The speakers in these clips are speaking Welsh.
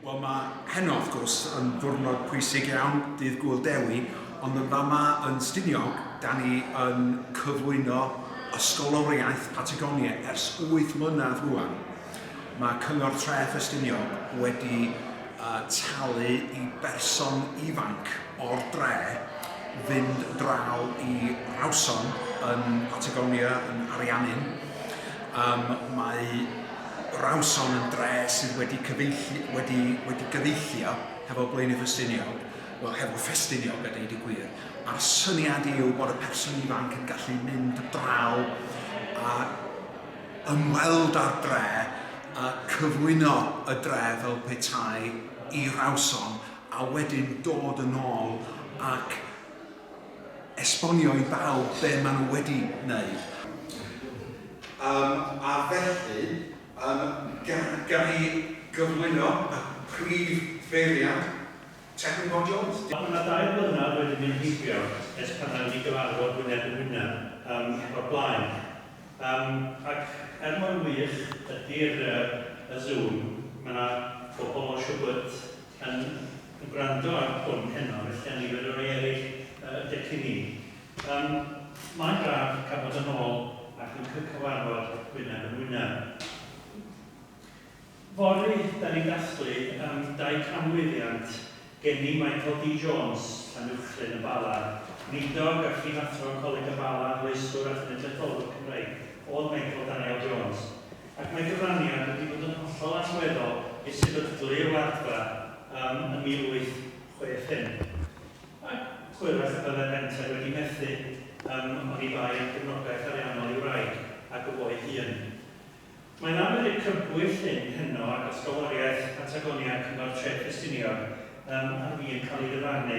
Wel, mae heno, wrth gwrs, yn ddwrnod pwysig iawn, dydd Gŵyl Dewi, ond yn fama yn Stiniog, da ni yn cyflwyno ysgoloriaeth Patagonia ers wyth mlynedd rwan. Mae Cyngor Tref Estiniog wedi talu i berson ifanc o'r dre fynd draw i Rawson yn Patagonia, yn Ariannin. Mae... Rawson yn dre sydd wedi cyfeilli- wedi wedi gyfeillio hefo Blaenau Ffestiniog, wel hefo Ffestiniog a deud y gwir, a'r syniad yw bod y person ifanc yn gallu mynd draw a ymweld â'r dre a cyflwyno y dre fel petai i Rawson a wedyn dod yn ôl ac esbonio i bawb be maen nhw wedi wneud. Yym, a felly, yym, ga- gawn ni gyflwyno y prif feirniad Tecwyn Bob Jones? Diolch. Mae dau flynedd wedi mynd heibio ers pan nawn ni gyfarfod wyneb yn wyneb yym o'r blaen. Yym, ac er mor wych ydi'r yy y Zoom, mae 'na bobl o Siwgwt, yn gwrando ar hwn heno, felly a nifer o rai eraill y dych i mi. Yym, mae'n braf cael bod yn ôl ac yn cy cyfarfod wyneb yn wyneb. Fory, da ni'n dathlu yym dau canmlwyddiant gen i, Michael D Jones, Llanuwchllyn y Bala, weinidog a phrif athro Coleg y Bala, arloeswr a chenedlaetholwr Cymreig, oedd Michael Daniel Jones. ac mae cyfraniad wedi bod yn hollol allweddol i'r sefydlu y Wardfa ym 1865, ac hwyrach y byddai'r Menter wedi methu ym oni bai am gefnogaeth ariannol ei wraig ac o fo'i hun. Mae yna ymyrryd crybwyll hyn heno ag ysgoloriaeth Patagonia Cyngor Tref Ffestiniog ym ar fin cael ei ddyfarnu.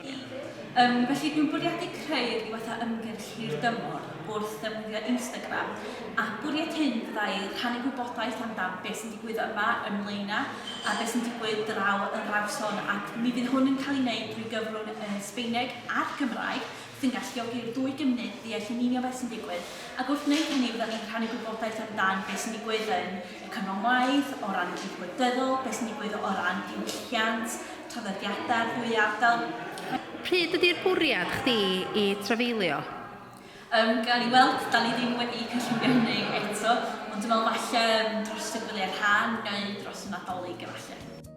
Yym, felly dwi'n bwriadu creu'r diweddar ymgyrch hir-dymor wrth ddefnyddio Instagram, a bwriad hyn fyddai rhannu gwybodaeth amdan beth sy'n digwydd yma ym Mlaenau a beth sy'n digwydd draw yn Rawson, ac mi fydd hwn yn cael ei wneud drwy gyfrwng y Sbaeneg a'r Gymraeg. sy'n galluogi i'r ddwy gymuned ddeall yn union beth sy'n digwydd, ac wrth wneud hynny fyddan ni'n rhannu gwybodaeth amdan beth sy'n digwydd yn y cyfnod ngwaith, o ran y cyd gwleidyddol, beth sy'n digwydd o ran diwylliant, traddodiadau'r ddwy ardal. Pryd ydi'r bwriad chdi i trafeilio? Yym, gawn ni weld, 'dan ni ddim wedi cynllunio hynny eto, ond dwi'n meddwl falle dros y gwyliau'r ha neu dros y Nadolig efallai.